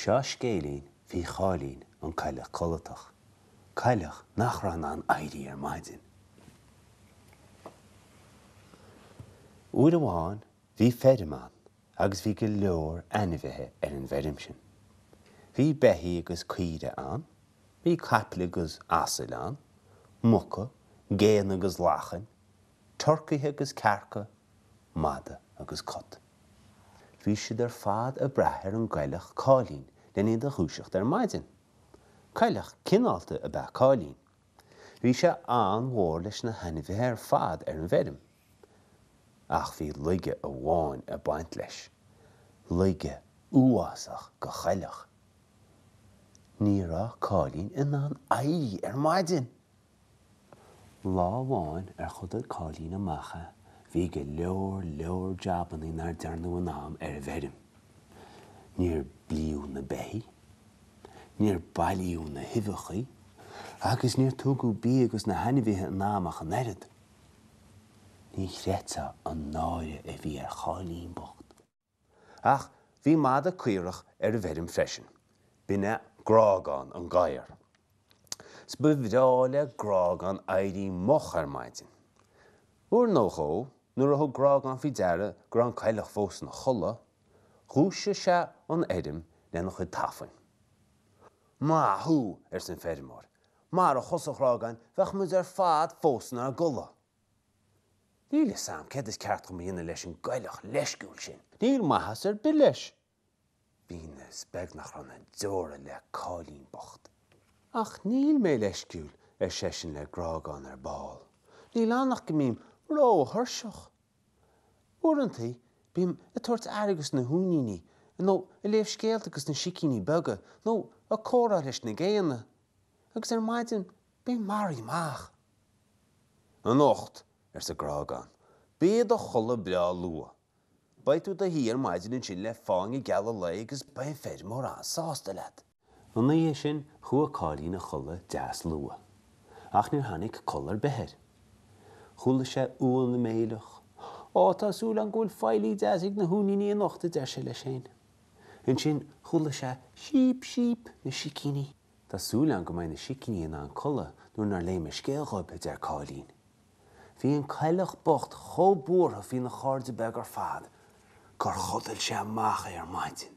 Seo scéilín faoi Cháilín an Coileach Codlatach, coileach nach raibh in ann éirí ar maidin. Uair amháin bhí feirm ann agus bhí go leor ainmhithe ar an bhfeirm sin. Bhí beithígh agus caoire ann, bhí caiple agus asail ann, muca, géanna agus lachain, turcaithe agus cearca, mada agus cat. Bhí siad ar fad a' brath ar an gcoileach Cáilín lena iad a dhúiseacht ar maidin. Coileach cineálta ab ea Cáilín. Bhí sé an-mhór leis na hainmhithe ar fad ar an bhfeirm. Ach bhí laige amháin ag baint leis, laige uafásach do choileach. Ní raibh Cáilín in ann éirí ar maidin! Lá amháin ar chodail Cáilín amach é, bhí go leor leor jabannaí nár dearnadh in am ar an bhfeirm. Níor blíodh na beithígh. níor bailíodh na huibheachaí agus níor tugadh bia do na hainmhithe in am ach an oiread. Ní chreidfeá an náire a bhí ar Cháilín bocht. Ach bhí mada caorach ar an bhfeirm freisin. B'in é Grágán an gadhar. 'S ba bhreá le Grágán éirí moch ar maidin. Uair nó dhó, nuair a thug Grágán faoi deara go raibh an coileach fós ina chodladh, Dhúisigh sé an fheirm lena chuid tafainn. Maith thú! arsa an feirmeoir. Marach thusa a Ghrágáin, bheadh muid ar fad fós inár gcodladh. Níl 'fhios a'am céard is ceart dhom a dhéanamh leis an gcoileach leisciúil sin. Níl maitheas ar bith leis. Muise is beag nach raibh na deora le Cáilín bocht. Ach níl mé leisciúil, ar seisean le Grágán ar ball. Níl ann ach go mbím ró-thuirseach. Uaireantaí bím ag tabhairt aire do na huainíní, nó ag léamh scéalta do na sicíní beaga, nó ag comhrá leis na géanna. Agus ar maidin bím maraithe amach. Anocht, arsa Grágán, bí i do chodladh breá luath. Beidh tú i do shuí ar maidin ansin le fáinne geal an lae agus beidh an feirmeoir an-sásta leat. An oíche sin chuaigh Cáilín a chodladh deas luath. Ach níor tháinig codladh ar bith air. Chuala sé uan ag méileach. Ó, tá súil agam go bhfuil feighlí deas ag na huainíní anocht, a deir sé leis féin. Ansin chuala sé síp, síp, na sicíní. Tá súil agam go mbeidh na sicíní in ann codladh nuair nár léigh mé scéal dhóibh, a deir Cáilín. Bhí an coileach bocht chomh buartha faoina chairde beaga ar fad gur chodail sé amach é ar maidin.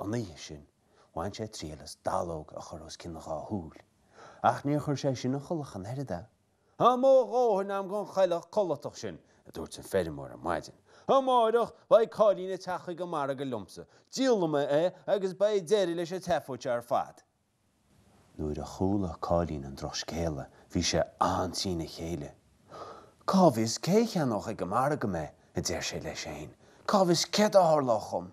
An oíche sin, bhain sé triail as dallóg a chur os cionn a dhá shúil, ach níor chuir sé sin a chodladh ach an oiread é. Tá mo dhóthain agam gon choileach codlatach sin, a dúirt an feirmeoir ar maidin. Amáireach, beidh Cáilín ag teacht chuig an margadh liomsa, díolfaidh mé é agus beidh deireadh leis an tseafóid seo ar fad. Nuair a chuala Cáilín an drochscéala bhí sé an-trína chéile. Cá bhfios cé a cheannódh ag an margadh mé, a deir sé leis féin, cá bhfios céard a tharlódh dhom?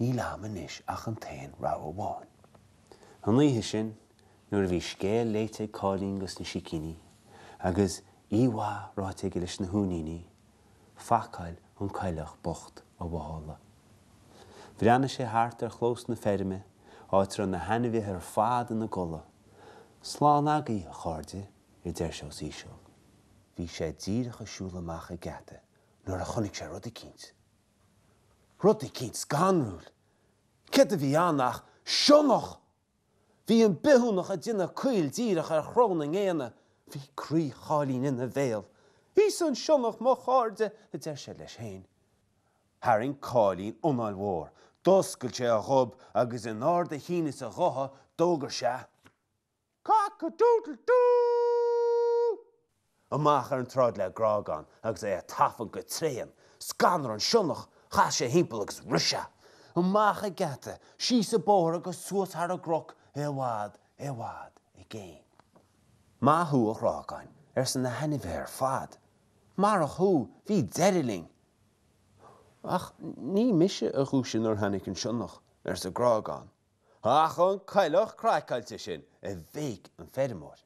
Níl a'am anois ach an t-aon rogha amháin. An oíche sin, nuair a bhí scéal léite ag Cáilín dos na sicíní, agus oíche mhaith ráite aige leis na huainíní, phacáil an coileach bocht a mhála. Bhreathnaigh sé thart ar chlós na feirme, áit a raibh na hainmhithe ar fad ina gcodladh. Slán agaibh, a chairde, a deir sé os íseal. Bhí sé díreach ag siúl amach an geata nuair a chonaic sé rud eicínt. Rud eicínt scanrúil! Céard a bhí ann ach sionnach! Bhí an bithiúnach ag déanamh caol díreach ar chró na ngéanna, bhí croí Cháilín ina bhéal. Íosfaidh an sionnach mo chairde, a deir sé leis féin. Tharraing Cáilín anáil mhór, d'oscail sé a ghob agus in ard a chinn is a ghutha d'fhógair sé, Cock-a-doodle-doo! Amach ar an tsráid le Grágán agus é ag tafann go tréan, scanraigh an sionnach, chas sé thimpeall agus rith sé. Amach an geata, síos an bóthar agus suas thar an gcnoc, i bhfad, i bhfad i gcéin. Maith thú, a Ghrágáin, arsa na hainmhithe ar fad. Marach thú, bhí deireadh linn! Ach ní mise a dhúisigh nuair a tháinig an sionnach, arsa Grágán, ach an coileach craiceáilte sin, a bhéic an feirmeoir.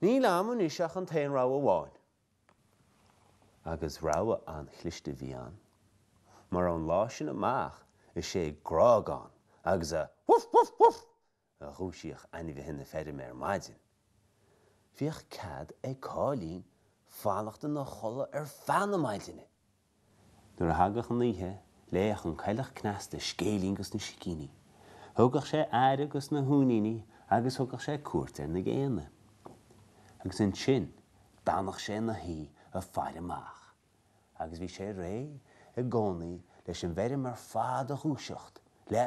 Níl a'm anois ach an t-aon rogha amháin. Agus rogha an-chliste a bhí ann, mar ón lá sin amach is é Grágán agus a Woof woof woof! a dhúisíodh ainmhithe na feirme ar maidin. Bhíodh cead ag Cáilín fanacht ina chodladh ar feadh na maidine! Nuair a thagadh an oíche, léadh an coileach cneasta scéilín dos na sicíní. Thugadh sé aire dos na huainíní agus thugadh sé cuairt ar na géanna. Agus ansin, d'fhanadh sé ina shuí ag faire amach. Agus bhí sé réidh i gcónaí leis an bhfeirm ar fad a dhúiseacht le